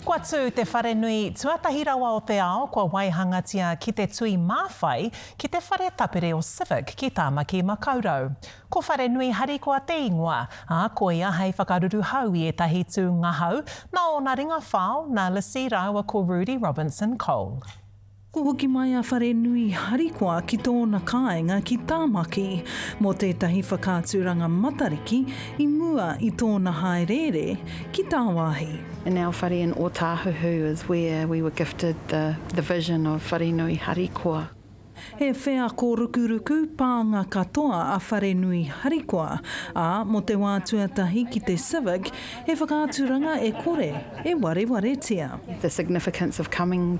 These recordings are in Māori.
Kua tū te wharenui tuatahi rawa o te ao kua waihangatia ki te tui māwhai ki te whare tapere o Civic ki Tāmaki Makaurau. Ko Wharenui Harikoa te ingoa, ā, koia hei whakaruruhau i ētahi tū ngahau nā ōna ringa whao, nā Lissy rāua ko Rudi Robinson Cole. Kua hoki mai a Wharenui harikoa ki tōna kāinga ki Tāmaki mō tētahi whakaaturanga Matariki i mua i tōna hāereere ki tāwāhi. And our whare in Otāhuhu is where we were gifted the the vision of Wharenui harikoa. He wheako rukuruku pānga katoa a Wharenui harikoa, ā, mō te wā tuatahi ki te Civic, he whakaaturanga e kore e warewaretia. The significance of coming.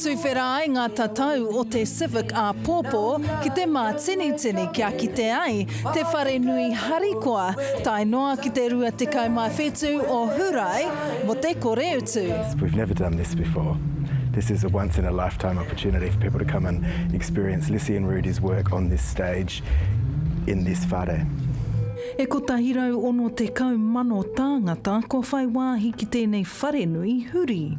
Tuwhera ai ngā tatau o te Civic āpōpō ki te mātinitini kia kite ai te wharenui harikoa tae noa ki te 27 o Hurae mō te kore utu. We've never done this before. This is a once in a lifetime opportunity for people to come and experience Lissy and Rudy's work on this stage in this whare. E 160 mano tāngata kua whai wāhi ki tēnei wharenui huri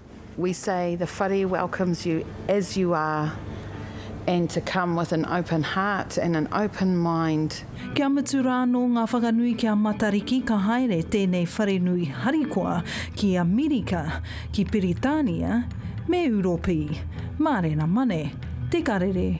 We say the whare welcomes you as you are and to come with an open heart and an open mind. Kia mutu rā anō ngā whakanui ki a Matariki ka haere tēnei wharenui harikoa ki Amerika, ki Piritānia me Ūropi. Mārena Mane, Te Karere.